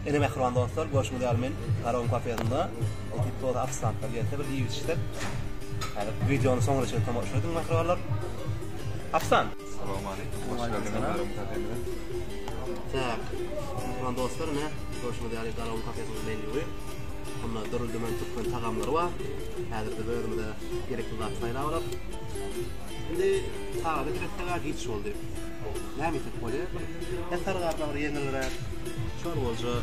Ene mähriban dostlar, görşüňiz ýaly men Garawuň kafesinde otyrp toza ofisantlar gelse bir iýip içsek. Häzir wideony soňuna çenli tomaşa ediň mähribanlar. Ofisant. Salam aleýkum. Hoş geldiňiz Garawuň kafesine. Tak. Mähriban dostlar, ine görşüňiz ýaly Garawuň kafesiniň menýuy. Onda dürli-dümen türkmen tagamlary bar. Häzir biz özümize gerekli zat saýlap alak. Indi tagada giresdeg-ä giç boldy. Näme iýsek bolýar? Petar gardagyr ýeňilräk. Çorbaja.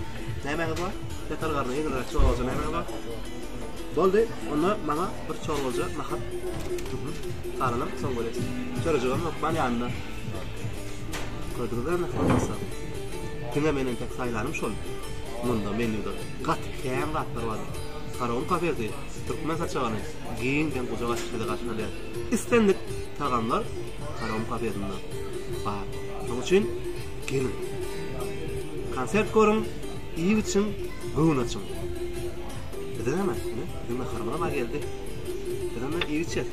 Nämäňiz bar? Petar gardagyr ýeňilräk çorbaja nämäňiz bar? Boldy. Onda maňa bir çorbaja nahat. Garalam soň görýäs. Çörejigem ýok bar ýanynda. Gördüňizmi bolmasa? Diňe meniň tek saýlanym şol. Munda menýuda gaty kän zatlar bar. Faraon kafesi, türkmen saçagyny, giň geň gujak açyp sizi garşylaýar. Islendik tagamlar Karom kafesinde bar. Şonuň üçin geliň. Konsert görüň, iýip içiň, göwün açyň. Biziň hem ine, biziň naharymyz hem geldi. Biz hem iýip içeris.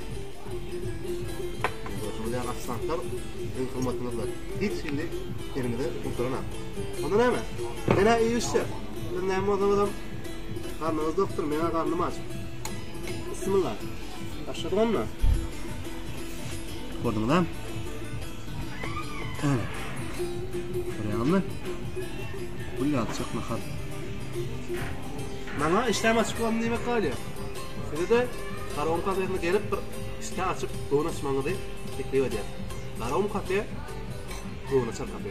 Gördüňizmi, ofisiantlar siziň hyzmatyňyzda hiç hili elimizi gutaranok. Onda näme? Gel-ä iýip içse. Siz näme bolsaňyzam, garnyňyz dokdur, meň-ä garnym aç. Bismillah. Başladyk onda. Gördüňizmi? Ana. Görýäňizmi? Bu ýalçak nahar. Maňa işlem açyk bolun diýmek galýar. Size-de Garawun kafesine gelip bir işlem açyp, gowun açmagyňyzy teklip edýär. Garawun kafe, gowun açar kafe.